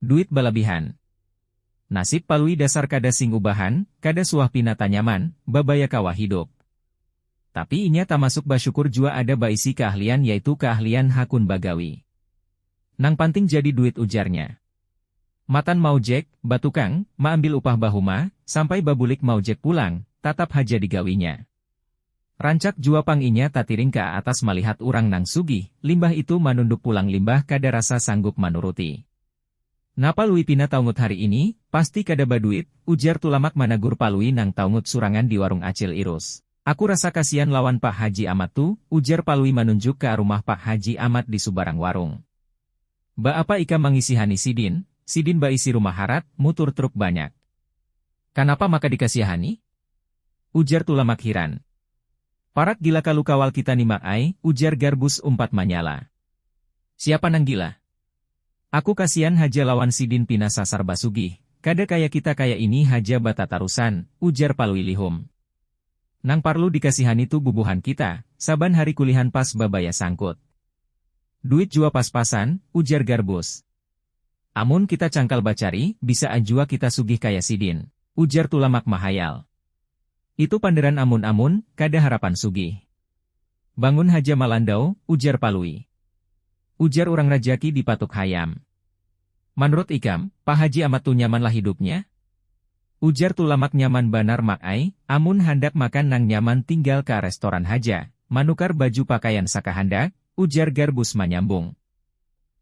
Duit balabihan. Nasib Palui dasar kada sing ubahan, kada suah pina tanyaman, babaya kawa hidup. Tapi inya tamasuk basyukur jua ada baisi kaahlian yaitu kaahlian hakun bagawi. Nang panting jadi duit ujarnya. Matan maujek, batukang, maambil upah bahuma, sampai babulik maujek pulang, tatap haja digawinya. Rancak jua pang inya tatiring ka atas malihat urang nang sugih, limbah itu manunduk pulang limbah kada rasa sanggup manuruti. Napa Lui pina taungut hari ini? Pasti kada baduit, ujar Tulamak managur Palui nang taungut surangan di warung Acil Irus. Aku rasa kasian lawan Pak Haji Amat tu, ujar Palui manunjuk ka rumah Pak Haji Amat di subarang warung. Ba apa ikam mangisihani sidin? Sidin baisi rumah harat, mutur truk banyak. Kanapa maka dikasiahani? Ujar Tulamak hiran. Parak gila kalu kawal kita ni Mak ai, ujar Garbus umpat manyala. Siapa nang gila? Aku kasian haja lawan sidin pina sasar basugih, kada kaya kita kaya ini haja batatarusan, ujar Palui lihum. Nang parlu dikasihani tu bubuhan kita, saban hari kulihan pas babaya sangkut. Duit jua pas-pasan, ujar Garbus. Amun kita cangkal bacari, bisa an jua kita sugih kaya sidin, ujar Tulamak mahayal. Itu panderan amun amun, kada harapan sugih. Bangun haja Malandau, ujar Palui. Ujar urang rajaki di patuk hayam. Manrut ikam, Pa Haji Amat tu nyaman lah hidupnya? Ujar Tulamak nyaman banar Mak ai, amun handak makan nang nyaman tinggal ka restoran haja, manukar baju pakaian sakahandak, ujar Garbus manyambung.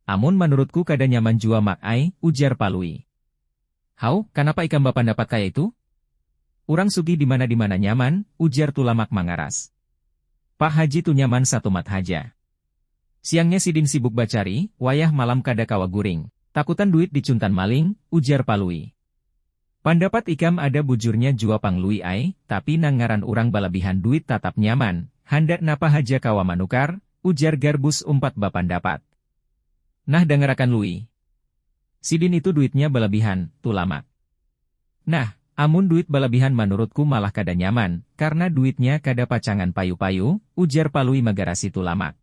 Amun manurutku kada nyaman jua Mak ai, ujar Palui. Haw, kanapa ikam bapandapat kaya itu? Urang sugih dimana-dimana nyaman, ujar Tulamak mangaras. Pak Haji tu nyaman satumat haja. Siangnya sidin sibuk bacari, wayah malam kada kawa guring. Takutan duit dicuntan maling, ujar Palui. Pandapat ikam ada bujurnya jua pang Lui ai, tapi nang ngaran urang balabihan duit tatap nyaman, handak napa haja kawa manukar, ujar Garbus umpat bapandapat. Nah dangarakan Lui. Sidin itu duitnya balabihan, Tulamak. Nah, amun duit balabihan manurutku malah kada nyaman, karna duitnya kada pacangan payu-payu, ujar Palui magarasi Tulamak.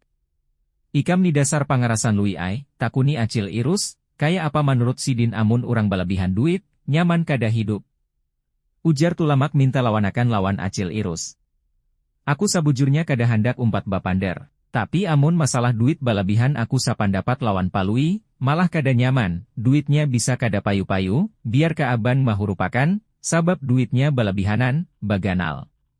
Ikam ni dasar pangarasan Lui ai, takuni Acil Irus, Kaya apa manurut sidin amun urang balabihan duit, nyaman kada hidup? Ujar Tulamak minta lawanakan lawan Acil Irus. Aku sabujurnya kada handak umpat bapander. Tapi amun masalah duit balabihan aku sapandapat lawan Palui, malah kada nyaman, duitnya bisa kada payu-payu, biar kaaban mahurupakan, sabab duitnya balabihanan, baganal.